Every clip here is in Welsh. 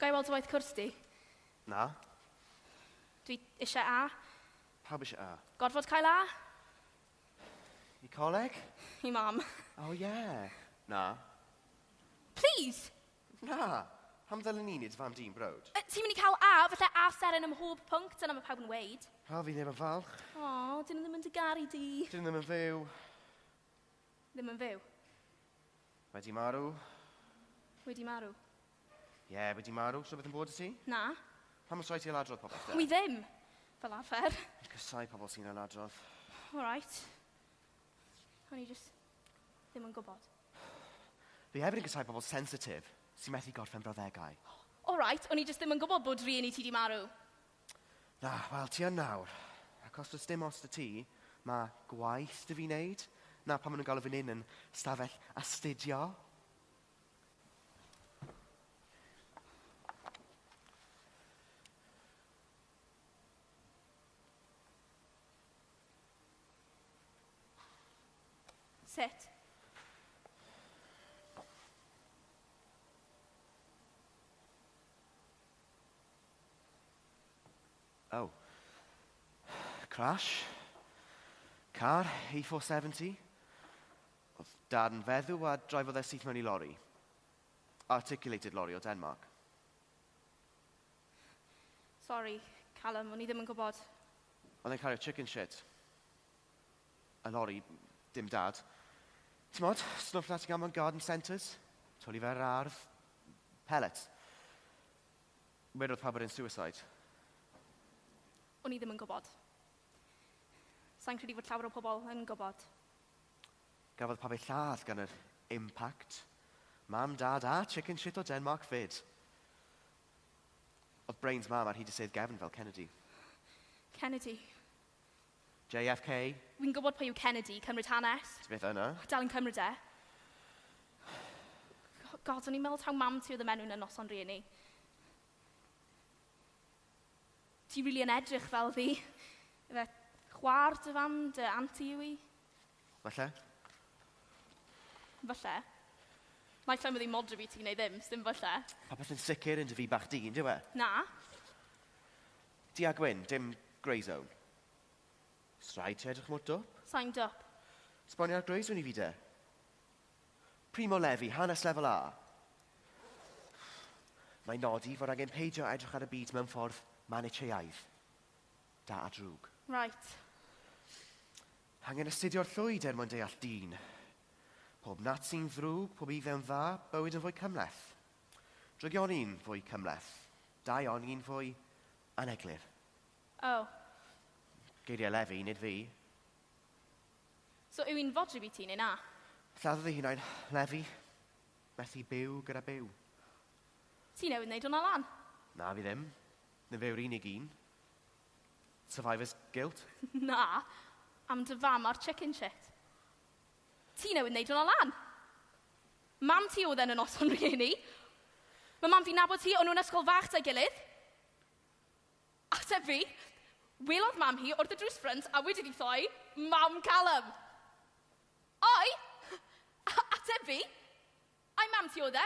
Ga i weld dy waith cwrs di? Na. Dwi eisiau A. Pawb eisiau A. Gorfod cael A? I coleg? I mam. O oh, ie. Yeah. Na. Please! Na! Pam ddylen ni nid fam dyn browd? Uh, ti'n mynd i cael A, falle A seren ym mhob pwnc, dyna mae pawb yn weid. O, fi ddim yn falch. O, oh, dyn nhw ddim yn dy garu di. Dyn nhw ddim yn fyw. Ddim yn fyw? Wedi marw. Wedi marw. Ie, yeah, wedi marw. Rhywbeth yn bod y ti? Na. Pam os rhaid ti ailadrodd popeth da? Wi ddim! Fel arfer. Fi'n casau pobl sy'n ailadrodd. Alright. O'n i just ddim yn gwybod. Fi hefyd yn casau pobl sensitif sy'n methu gorffen brawddegau. Alright, o'n i just ddim yn gwybod bod rhieni ti di marw. Na, wel, ti yn nawr. Ac os does dim os da ti, mae gwaith dy fi wneud. Na, pan maen nhw'n galw fy nyn yn stafell astudio. Sut? Oh. Crash. Car, E470. Oedd darn feddw a drifodd e syth mewn i lori. Articulated lori o Denmark. Sorry, Callum, o'n i ddim yn gwybod. Oedd e'n cario chicken shit. Yn ori, dim dad. Timod, stwff na ti'n cael mewn garden centres? Twli fe ar yr ardd. Pellets. Wedodd pawb bod e'n suicide. O'n i ddim yn gwybod. Sa i'n credu fod llawer o pobl yn gwybod. Gafodd pawb eu lladd gan yr impact. Mam, Dad a chicken shit o Denmark 'fyd. Oedd brains Mam ar hyd y sedd gefn fel Kennedy. Kennedy. JFK. Wi'n gwybod pwy yw Kennedy, cymryd hanes. Ti byth yna. Dal yn cymryd e. God, o'n i'n meddwl taw mam ti oedd y menw yn y noson rieni. Ti rili yn edrych fel fi. Ife chwa'r dy fam, dy anti yw i? Falle. Falle. Naill ai ma ddim modryb i ti neu ddim, sdim falle. Popeth yn sicr yn dy fi bach di, yndyw e? Na. Du a gwyn, dim grey zone. Oes rhaid ti edrych mor dwp? Sai'n dwp. Sbonio ar Greyzone i fi de. Primo Levi, hanes lefel A. Mae'n nodi fod angen peidio edrych ar y byd mewn ffordd manicheaidd. Da a drwg. Right. Angen astudio'r llwyd er mwyn deall dyn. Pob Nazi'n ddrwg, pob Iddew'n dda, bywyd yn fwy cymhleth. Drygion un fwy cymhleth. Dau on un fwy aneglur. Oh. Geiriau Lefi, nid fi. So yw hi'n fodryb i ti, neu na? Lladdodd ei hunain, Lefi. Methu byw gyda byw. Ti newydd wneud hwnna lan? Na, fi ddim. Na fe yw'r unig un. Survivor's guilt. Na. Am dy fam a'r chicken shit. Ti newydd wneud hwnna lan. Mam ti oedd e yn y noson rhieni. Mae mam fi'n nabod ti, o'n nhw'n ysgol fach 'da'i gilydd. Ateb fi, welodd mam hi wrth y drws ffrynt a wedi ddi-thoi, Mam Calum! Ai? Ateb fi, Ai mam ti oedd e?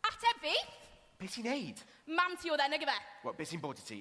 Ateb fi! Be ti'n neud? Mam ti oedd e, nag ife? Wel, be sy'n bod i ti?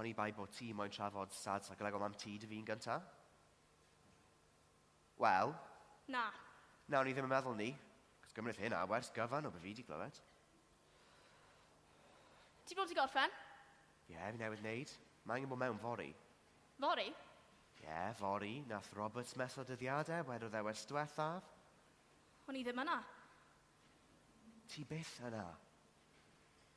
Oni bai bo ti moyn trafod sad sa Glegor mam ti dy fin gynta? Wel. Na. Na o'n i ddim yn meddwl ni, cos gymrith hynna wers gyfan o be fi di glywed. Ti fod i gorffen? Ie, fi newydd neud. Mae angen bod mewn fory. Fory? Ie, fory, nath Roberts methu dyddiade, wedodd e wers dwethaf. O'n i ddim yna. Ti byth yna.